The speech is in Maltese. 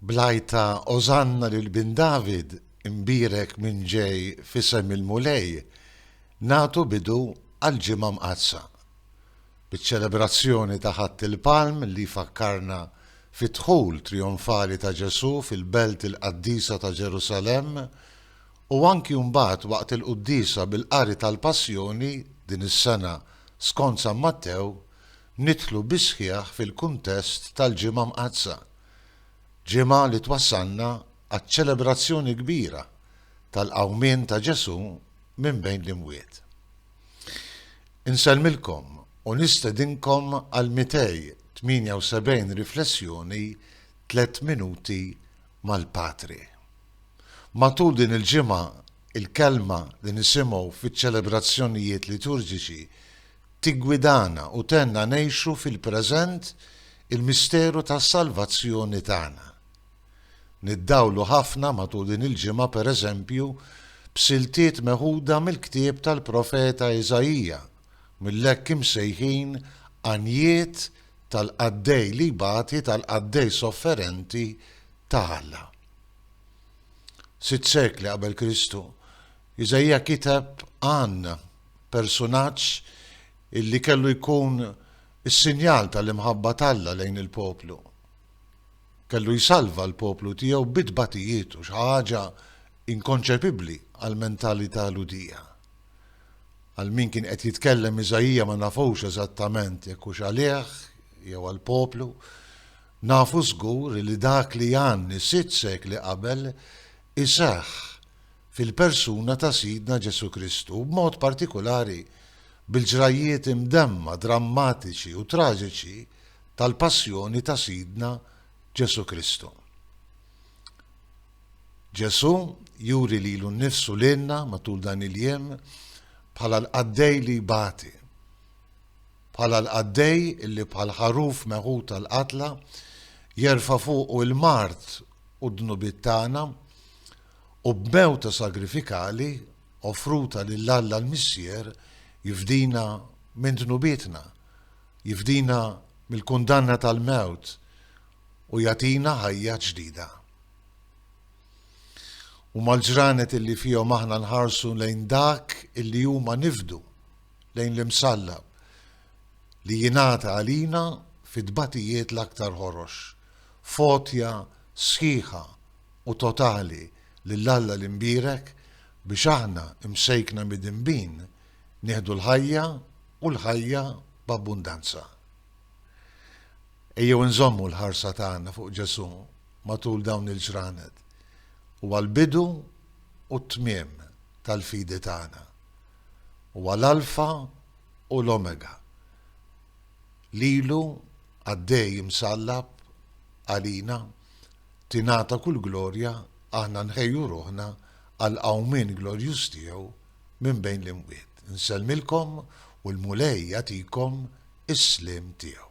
Bl-għajta Ożanna lil Bin David, imbierek min ġej f'isem il-Mulej, nagħtu bidu għall-Ġimgħa Mqaddsa. Biċ-ċelebrazzjoni ta' Ħadd il-Palm li jfakkarna fid-dħul trijonfali ta' Ġesù fil-Belt il-Qaddisa ta' Ġerusalemm u anki mbagħad waqt il-Quddiesa bil-Qari tal-Passjoni din is-sena skont San Mattew, nidħlu bis-sħiħ fil-kuntest tal-Ġimgħa Mqaddsa, ġimgħa li twassalna għaċ-ċelebrazzjoni kbira tal-qawmien ta' Ġesù minn bejn l-imwiet. Insellmilkom u nistedinkom għal 278 riflessjoni Tliet Minuti mal-Patri. Matul din il-ġimgħa, il-kelma li nisimgħu fiċ-ċelebrazzjonijiet liturġiċi tiggwidana u tgħinna ngħixu fil-preżent il-misteru tas-salvazzjoni tagħna. Niddawlu ħafna matul din il-ġimgħa pereżempju b'siltiet meħuda mill-ktieb tal-profeta Iżaija, mill-hekk imsejħin għanjiet tal-qaddej li jbati tal-qaddej sofferenti ta' Alla. Sitt sekli qabel Kristu, Iżaija kiteb għandna persunaġġ illi kellu jkun is-sinjal tal-imħabba t'Alla lejn il-poplu. Kellu jsalva l-poplu tiegħu bi tbatijietu, xi ħaġa inkonċepibbli għall-mentalità Lhudija. Għal min kien qed jitkellem Iżaija ma nafux eżattament jekk hux għalih jew għall-poplu, nafu żgur li dak li Janni sitt sekli qabel iseħħ fil-persuna ta' Sidna Ġesù Kristu u b'mod partikulari bil-ġrajjiet imdemma, drammatiċi u traġiċi tal-Passjoni ta' Sidna Ġesù Kristu. Ġesù juri lilu nnifsu lilna matul dan il-jiem bħala l-qaddej li jbati, bħala l-qaddej illi bħal ħaruf meħud tal-qatla jerfa' fuqu l-mard u d-dnubiet tagħna, U b'mewta sagrifikali offruta lil Alla l-Missier jifdina minn dnubietna, jifdina mill-kundanna tal-mewt u jagħtina ħajja ġdida. Huma l-ġranet li fihom aħna nħarsu lejn dak li huma nifdu, lejn l-Imsallab, li jingħata għalina fit-tbatijiet l-aktar ħorox, f'għotja sħiħa u totali lil Alla l-imbierek biex aħna, imsejkna midinbin, nieħdu l-ħajja u l-ħajja b'abbundanza. Ejjew inżommu l-ħarsa tagħna fuq Ġesù matul dawn il-ġranet. Huwa l-bidu u t-tmiem tal-fidi tagħna. Huwa l-Alfa u l-Omega. Lilu, Qaddej imsallab għalina, tingħata kull glorja, aħna nħejju ruħna għall-qawmien glorjuż tiegħu minn bejn l-imwiet. Insellmilkom u l-Mulej jagħtikom is-sliem tiegħu.